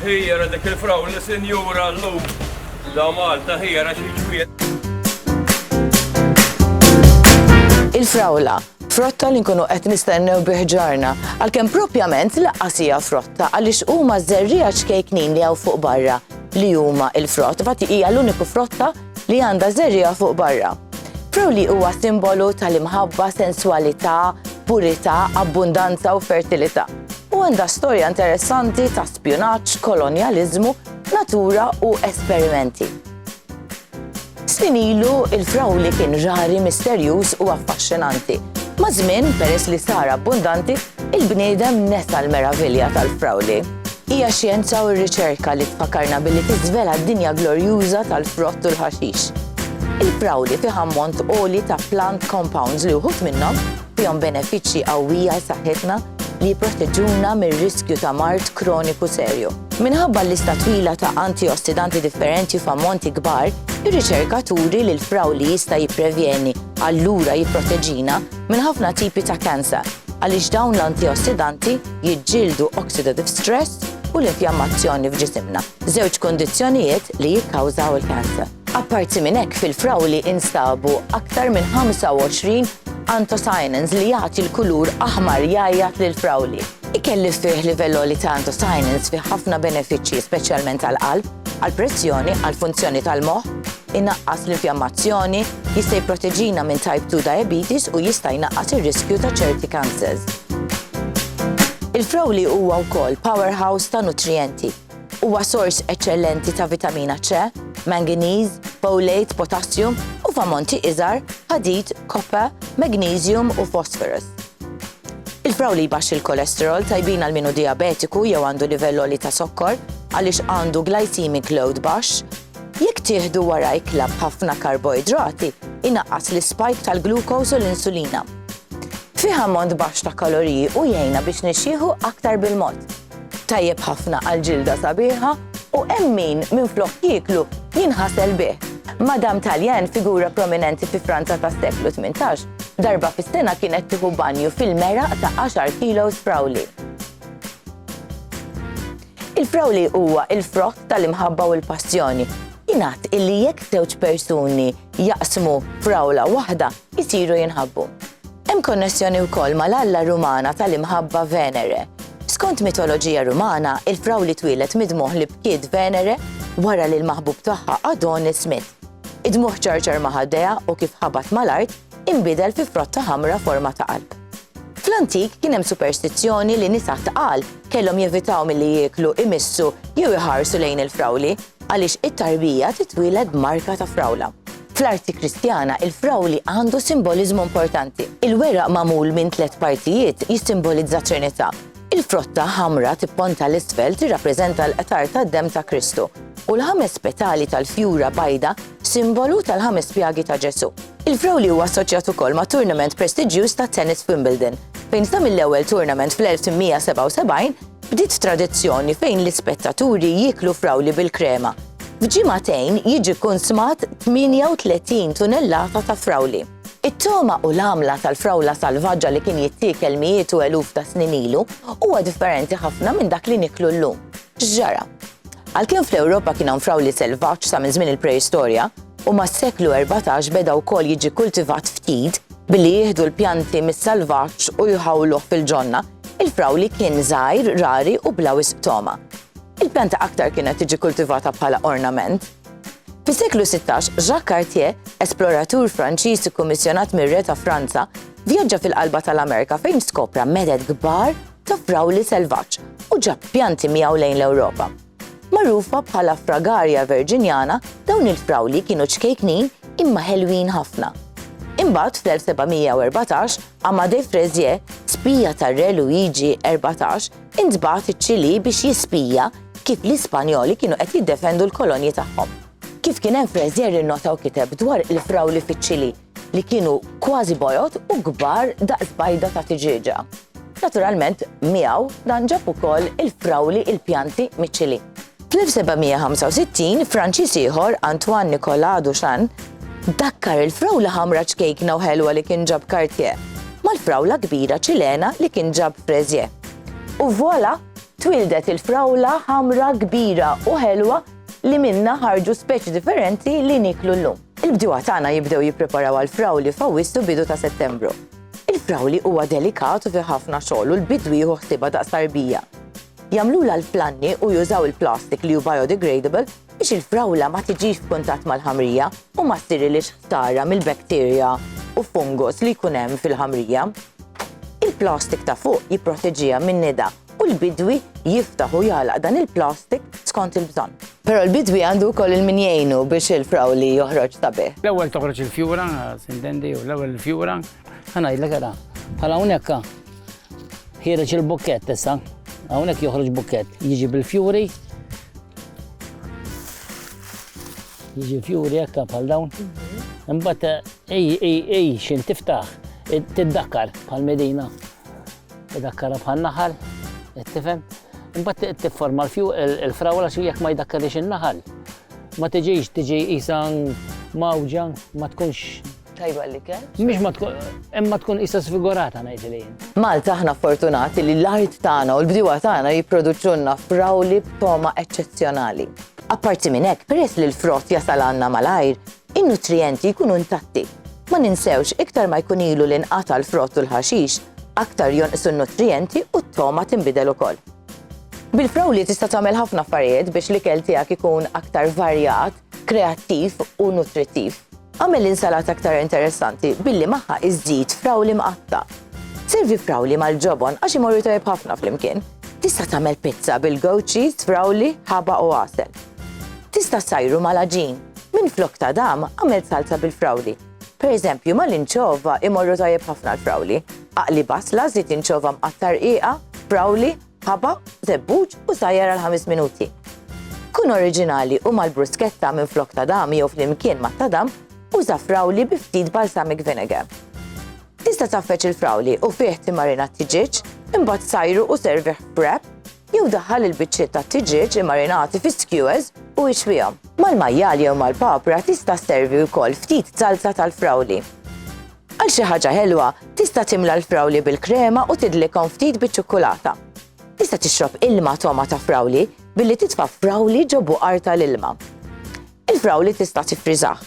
Hijra dik il-frawli sinjura llum. Da Malta hijra xi ġmiel. Il-frawla, frotta li nkunu qed nistennew bi ħġarna, għalkemm propjament laqqas hija frotta għaliex huma żerriegħa ċkejknin li hawn fuq barra li huma il-frott, fatti hija l-uniku frotta li għandha żerriegħa fuq barra. Frawli huwa simbolu tal-imħabba, senswalità, purità, abbundanza u fertilità. u għandha storja interessanti ta' spjunaġġ, kolonjaliżmu, natura u esperimenti. Snin ilu, il-frawli kien rari, misterjuż u affaxxinanti. Ma' żmien, peress li sar abbundanti, il-bniedem nesa l-meravilja tal-frawli. Hija xjenza u r-riċerka li tfakarna billi tiżvela d-dinja glorjuża tal-frott u l-ħaxix. Il-frawli fih ammont għoli ta' plant compounds li wħud minnhom fihom benefiċċji qawwi għal saħħitna li jipproteġuna mir-riskju ta' mard kroniku serju. Minħabba l-lista twila ta' antiossidanti differenti f'ammonti kbar, ir-riċerka turi li l-fraw li jista' jipprevjeni allura jipproteġina minn ħafna tipi ta' kanser għaliex dawn l-antiossidanti jiġġieldu oxidative stress u l-infjammazzjoni f'ġisimna, żewġ kundizzjonijiet li jikkawżaw il-kanser. Apparti minn hekk fil-frawli instabu aktar minn 25 anthocyanins li jagħti l-kulur aħmar jgħajjat lill-frawli. Ikel li fih livell għoli ta' anthocyanins fih ħafna benefiċċji speċjalment għall-qalb, għall-pressjoni, għall-funzjoni tal-moħħ, inaqqas l-infjammazzjoni, jista' jipproteġina minn type 2 diabetes u jista' jnaqqas ir-riskju ta' ċerti cancers. Il-frawli huwa wkoll powerhouse ta' nutrijenti Huwa sors eċċellenti ta' vitamina C, manganiż, folate, potassium u f'ammonti iżgħar ħadid, copper, magnesium u phosphorus. Il-frawli jbaxx il-kolesterol tajbin għal minu diabetiku jew għandu livell li ta' sokkor għaliex għandu glycemic load baxx. Jekk tieħdu wara ikla b'ħafna karboidrati, inaqqas l-ispike tal-glukos u l-insulina. Fiha mont baxx ta' kaloriji u jgħinna biex nixxieħu aktar bil-mod. Tajjeb ħafna għal ġilda sabiħa u hemm min minflok jieklu jinħasel bih. Madam Talien, figura prominenti fi Franza tas-seklu 18, darba fis-sena kienet tieħu banju fil-meraq ta' 10 kilos frawli. Il-frawli huwa il-frott tal-imħabba u l-passjoni. Jingħad illi jekk żewġ persuni jaqsmu frawla waħda, jtiru jinħabbu. Hemm konnessjoni wkoll mal-alla Rumana tal-imħabba Venere. Skont mitoloġija Rumana, il-frawli twieled mid-dmugħ li bkiet Venere wara li l-maħbub tagħha Adonis miet. Id-dmugħ ċarċar ma' ħaddejha u kif ħabat mal-art inbidel fi frotta ħamra forma ta' qalb. Fl-antik kien hemm superstizzjoni li nisa tqal kellhom jevitaw milli jieklu, imissu jew iħarsu lejn il-frawli Għaliex it-tarbija titwieled b'marka ta' frawla. Fl-arti Kristjana, il-frawli għandu simboliżmu importanti. Il-weraq magħmul minn tliet partijiet jissimbolizza t-Trinità. Il-frotta ħamra tipponta 'l isfel tirrappreżenta l-qtar tad-demm ta' Kristu, u l-ħames petali tal-fjura bajda simbolu tal-ħames pjagi ta' Ġesù. Il-frawli huwa assoċjat ukoll ma' turnament prestiġjuż tat-tennis f'Wimbledon, fejn sa mill-ewwel turnament fl-1877, Bdiet tradizzjoni fejn l-ispettaturi jieklu frawli bil-krema. F'ġimagħtejn jiġi kkunsmat 38 tunellata ta' frawli. It-togħma u l-għamla tal-frawla salvaġġa li kien jittiekel mijiet u eluf ta' snin ilu huwa differenti ħafna minn dak li nieklu llum. X'ġara? Għalkemm fl-Ewropa kien hawn frawli selvaġġ sa minn żmien il-Preistorja, u mas-seklu erbatax beda wkoll jiġi kkultivat ftit billi jieħdu l-pjanti mis-salvaġġ u jħawluh fil-ġonna, Il-frawli kien żgħir, rari u bla wisq togħma. Il-pjanta aktar kienet tiġi kultivata bħala ornament. Fis-seklu 16, Jacques Cartier, esploratur Franċiż ikkummissjonat mir-Re ta' Franza, vjaġġa fil-qalba tal-Amerika fejn skopra meded kbar ta' frawli selvaġġ u ġab pjanti miegħu lejn l-Ewropa. Magħrufa bħala Fragaria virginiana, dawn il-frawli kienu ċkejknin imma ħelwin ħafna. Imbagħad fl-1714, Amadé Fraisier, spija tar-Re Luigi Erbatax, intbagħat iċ-Ċilì biex jispija kif l-Ispanjoli kienu qed jiddefendu l-kolonji tagħhom. Kif kien hemm Fraisier innota u kiteb dwar il-frawli fiċ-Ċilì, li kienu kważi bojod u kbar daqs bajda ta' tiġieġa. Naturalment, miegħu dan ġab ukoll il-frawli il-pjanti miċili. Fl-1765, Franċiż ieħor, Antoine Nicolas Duchamp, dakkar il-frawla ħamra ċkejkna u ħelwa li kien ġab Cartier mal-frawla kbira Ċilena li kien ġab Fraisier. U voilà, twildet il-frawla ħamra kbira u ħelwa li minnha ħarġu speċi differenti li niklu llum. Il-bdiewa tagħna jibdew jippreparaw għall-frawli f'Awwissu bidu ta' Settembru. Il-frawli huwa delikat u fih ħafna xogħol u l-bidwi jieħu ħsiebha daqs tarbija. Jagħmlulha l-flanni u jużaw il-plastik li hu biodegradable biex il-frawla ma tiġix f'kuntatt mal-ħamrija u ma ssirilhiex ħsara mill-bacteria u fungus li jkun hemm fil-ħamrija. Il-plastik ta' fuq jipproteġiha min-nida u l-bidwi jiftaħ u jagħlaq dan il-plastik skont il-bżonn. Però l-bidwi għandu wkoll il min jgħinu biex il-frawli joħroġ sabiħ. L-ewwel toħroġ il-fjura, sintendi, u l-ewwel il-fjura. Ħa ngħidlek ara, bħal hawnhekk ha, ħiereġ il-bukkett issa, hawnhekk joħroġ bukkett, jiġi bil-fjuri, jiġi fjuri hekk bħal dawn. Imbagħad ej ej ej x'in tiftaħ, tiddakkar bħal Medina. Idakkara bħal naħal, qed tifhem? Imbagħad tifforma l-fju il-frawla xi jekk ma jdakkarix in-naħal. Ma tiġix tiġi qisha mawġa, ma tkunx tajba li kell. Mhix ma tkun imma tkun issa sfigurata ngħid li jien. Malta aħna fortunati li l-art tagħna u l-bdiewa tagħna jipproduċunna frawli b'toma eċċezzjonali. Apparti minn hekk, peress li l-frott jasal għandna malajr, In-nutrijenti jkunu intatti. Ma ninsewx, iktar ma jkun ilu li nqata' l-frott u l-ħaxix, aktar jonqsu n-nutrijenti u t-togħma tinbidel ukoll. Bil-frawli tista' tagħmel ħafna affarijiet biex l-ikel tiegħek ikun aktar varjat, kreattiv u nutrittiv. Agħmel l-insalata aktar interessanti billi magħha iżżid frawli mqatta'. Servi frawli mal-ġobon għax imorru tajjeb ħafna flimkien. Tista' tagħmel pizza bil-goat cheese, frawli, ħaba u għasel. Tista' ssajru mal-għaġin. Minflok ta' dam, agħmel salza bil-frawli. Per eżempju, mal-inċova imorru tajjeb ħafna l-frawli. Aqli basla, żid inċova mqatta' rqiqa, frawli, ħaba, żebbuġ u sajjar għal ħames minuti. Kun oriġinali u mal-bruschetta minflok ta' dam jew flimkien ma' ta' dam, uża frawli bi ftit balsamic vinegar. Tista' tgħaffeġ il-frawli u fih timmarina t-tiġieġ, imbagħad sajru u servih f'wrap, Jew daħħal il-biċċiet tat-tiġieġ immarinati fi skewers u ixwihom. Mal-majjal jew mal-papra tista' sservi wkoll ftit salsa tal-frawli. Għal xi ħaġa ħelwa, tista' timla l-frawli bil-krema u tidlikhom ftit biċ-ċukkulata. Tista' tixrob ilma togħma ta' frawli billi titfa' frawli ġo buqar tal-ilma. Il-frawli tista' tiffriżah.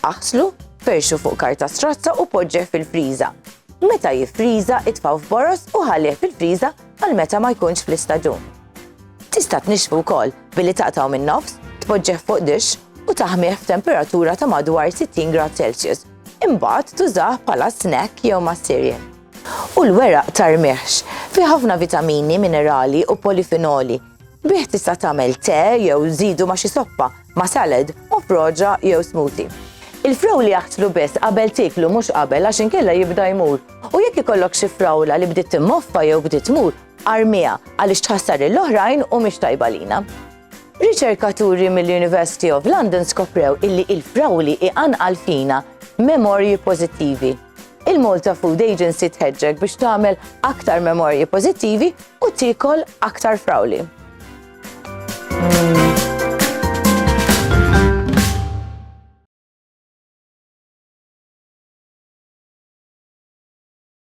Aħslu, ferxu fuq karta strazza u poġġeh fil-friża. Meta jiffriża, itfgħu f'boroż u ħallih fil-friża għal meta ma jkunx fl-istaġun. Tista' tnixxfu wkoll billi taqtgħu min-nofs, tpoġġeh fuq dixx u taħmih f'temperatura ta' madwar 60 grad Celsius. Imbagħad tużah bħala snack jew mas-cereal. U l-weraq ta' rmieħx. Fih ħafna vitamini, minerali u polifinoli Bih tista' tagħmel te jew żidu ma' xi soppa, ma' salad u proġa jew smoothie. Il-frawli jaħtlu biss qabel tieklu mhux qabel għax inkella jibda jmur. U jekk ikollok xi frawla li bdiet timmoffa jew bdiet tmur, armiha għaliex tħassar lill-oħrajn u mhix tajba lina. Riċerkaturi mill-University of London skoprew illi il-frawli iqanqal fina memorji pożittivi. Il-Malta Food Agency tħeġġek biex tagħmel aktar memorji pożittivi u tikol aktar frawli.